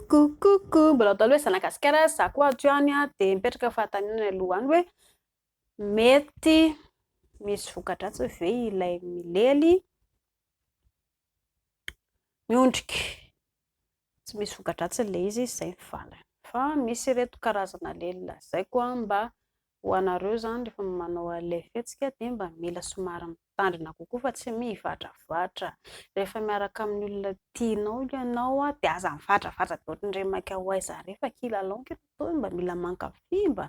Coucou, mbola atao hoe zanagasikara za koa aty any dia mipetraka fahataninana aloha any hoe mety misy vokadratsy ve ilay milely miondrika tsy misy vokadratsy ilay izy izay ny valiny fa misy ireto karazana lely lazaiko mba Ho anareo izany rehefa manao ilay fihetsika dia mba mila somary mitandrina kokoa fa tsy mivatravatra. Rehefa miaraka amin'ny olona tianao ianao dia aza mivatravatra be ohatran'ireny maika ho aiza ireny fa kilalao ny kilalao mba mila mankafy mba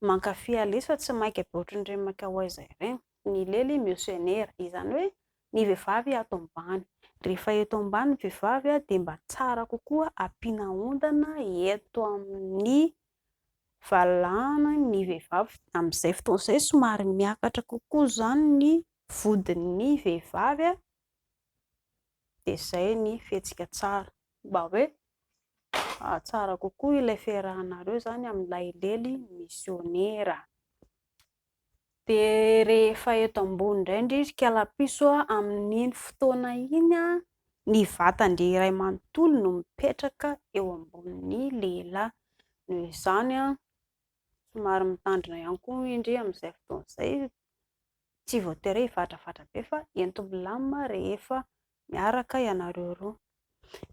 mankafy à l'aise fa tsy maika be ohatran'ireny maika ho aiza ireny. Ny lely mieux se nera izany hoe ny vehivavy ato ambany. Rehefa eto ambany ny vehivavy dia mba tsara kokoa ampiana ondana eto amin'ny valahana ny vehivavy. Amin'izay fotoana izay somary miakatra kokoa izany ny vodin'ny vehivavy dia izay ny fihetsika tsara, mba hoe hahatsara kokoa ilay fiarahanareo izany amin'ilay lely misiônera. Dia rehefa eto ambony indray indry ry kalapiso a, amin'iny fotoana iny a, ny vatan-dry iray manontolo no mipetraka eo ambonin'ny lehilahy. Noho izany a, somary mitandrina ihany koa indry amin'izay fotoana izay, tsy voatery hoe hivadrafadra be fa ento milamina rehefa miaraka ianareo roa.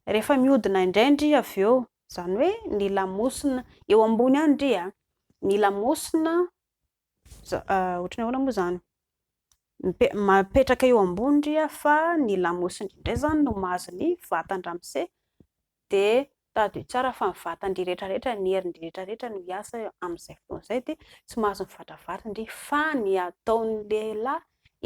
Rehefa mihodina indray indry avy eo, izany hoe ny lamosina, eo ambony ihany indry a, ny lamosina Ohatran'ny ahoana moa izany? Mipetraka eo ambony ry a fa ny lamosiny indray izany no mahazo ny vatan-dramose dia tadidio tsara fa ny vatan-dry rehetra rehetra, ny herin-dry rehetra rehetra no hiasa amin'izay fotoana izay dia tsy mahazo mivadra vatony fa ny ataon'ny lehilahy,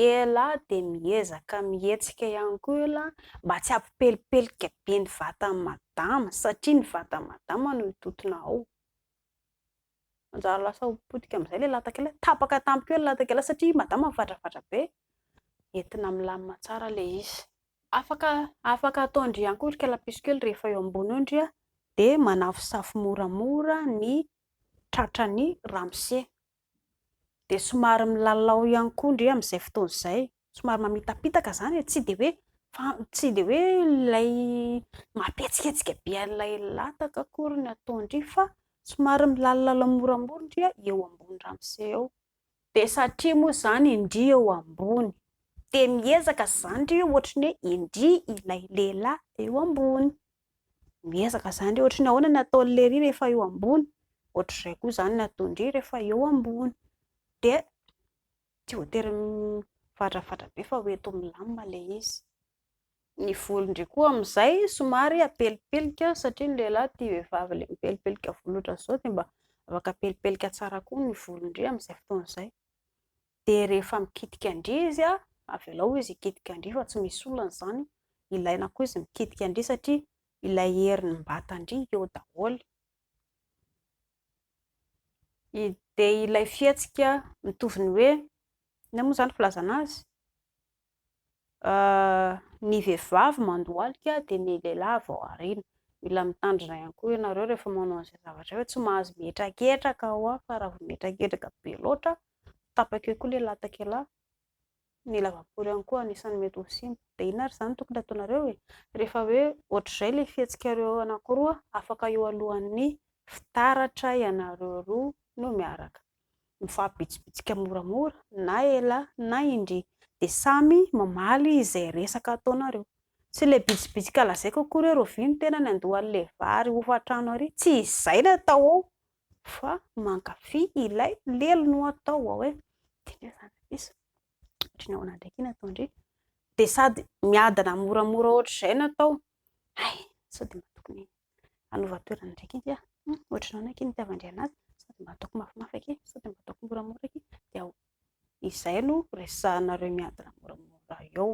ialahy dia miezaka mihetsika ihany koa ialahy mba tsy hampipelipelika be ny vatan'i madama satria ny vatan'i madama no mitontona ao. Manjary lasa ho potika amin'izay ilay latak'ila. Tapaka tampoka eo ilay latak'ila satria madama mivadrafadra be. Entina milamina tsara ilay izy. Afaka afaka ataon-dry ihany koa ry kalapiso kely rehefa eo ambony eo ndry dia manafosafo moramora ny tratran'ny ramose. Dia somary milalao ihany koa ndry amin'izay fotoana izay somary mamitapitaka izany e, tsy dia hoe fa tsy dia hoe ilay mampihetsiketsika be an'ilay lataka akory ny ataon-dry fa somary milalilala moramora ndry eo ambony ramose eo. Dia satria moa izany indry eo ambony dia miezaka izany ndry ohatry ny hoe indry ilay lehilahy eo ambony. Miezaka izany ndry ohatry ny ahoana ny ataon'lery rehefa eo ambony, ohatr'izay koa izany ny ataon-dry rehefa eo ambony. Dia. Tsy voatery mivadrafadra be fa ho eto milamina ilay izy. Ny volo indray koa amin'izay somary apelipelika satria ny lehilahy tia vehivavy ilay mipelipelika volo ohatran'izao dia mba afaka apelipelika tsara koa ny volon-dry amin'izay fotoana izay. Dia rehefa mikitika an-dry izy, avelao izy hikitika an-dry fa tsy misy olana izany. Ilaina koa izy mikitika an-dry satria ilay herin'ny mbatan-dry eo daholo. Dia ilay fihetsika mitovy ny hoe, inona moa izany filazana azy? ny vehivavy mandohalika dia ny lehilahy vao ariana. Mila mitandrina ihany koa ianareo rehefa manao an'izay zavatra izay, tsy mahazo mihetraketraka ho'a, fa raha vao mihetraketraka be loatra, tapaka eo koa ilay latakelahy. ny lavapory ihany koa anisan'ny mety ho simba, dia inona ary izany tokony hataonareo e? Rehefa hoe ohatr'izay ilay fihetsikareo anankiroa afaka eo alohan'ny fitaratra ianareo roa no miaraka mifampibitsibitsika moramora na ela na indrìa dia samy mamaly izay resaka ataonareo, tsy ilay bitsibitsika lazaiko akory hoe rovia ny tenany andoha an'ilay vary hofan-trano ary, tsy izay no atao ao fa mankafy ilay lelo no atao ao e dia inona izany ry piso ohatry ny ahoana indray ity nataon-dry dia sady miadana moramora ohatr'izay no atao hay sao dia mba tokony hanova toerana indray ity aho ohatry ny ahoana ity no itiavan-dry an'azy sao dia mba ataoko mafimafy akia sao dia mba ataoko moramora akia dia ao izay no resahanareo miadana moramora eo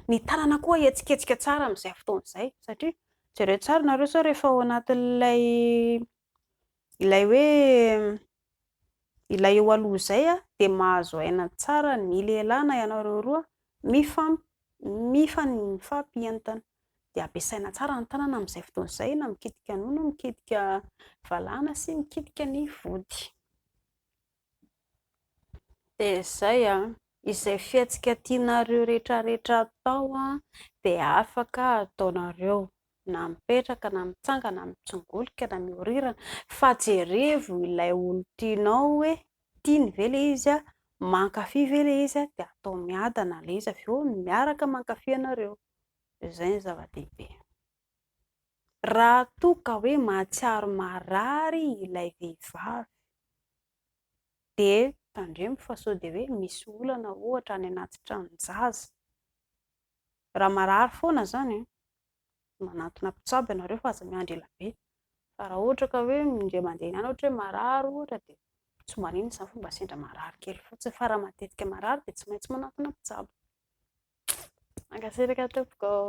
ny tanana koa hihetsiketsika tsara amin'izay fotoana izay satria jereo tsara nareo sao rehefa ao anatin'ilay Ilay hoe ilay eo aloha izay dia mahazo aina tsara ny lehilahy na ianareo roa mifam- mifampientana. Dia ampiasaina tsara ny tanana amin'izay fotoana izay na mikitika nono, mikitika valala sy mikitika ny vody. Dia izay an! Izay fihetsika tianareo rehetrarehetra atao an, dia afaka ataonareo na mipetraka na mitsangana na mitsongolika na miorirana fa jerevo ilay olon-tianao hoe tiany ve ilay izy an, mankafy ve ilay izy an, dia atao miadana ilay izy avy eo miaraka mankafy ianareo, izay no zava-dehibe. Raha toa ka hoe mahatsiaro marary ilay vehivavy dia tandremo fa sao dia hoe misy olana ohatra any anaty tranon-jaza. Raha marary foana izany an, manantona mpitsabo ianareo fa aza miandry ela be, fa raha ohatra ka hoe indray mandeha ihany ohatra hoe marary ohatra dia tsy maninona izany fa mba sendra marary kely fotsiny, fa raha matetika marary dia tsy maintsy manantona mpitsabo. Mankasitraka tompoko ô.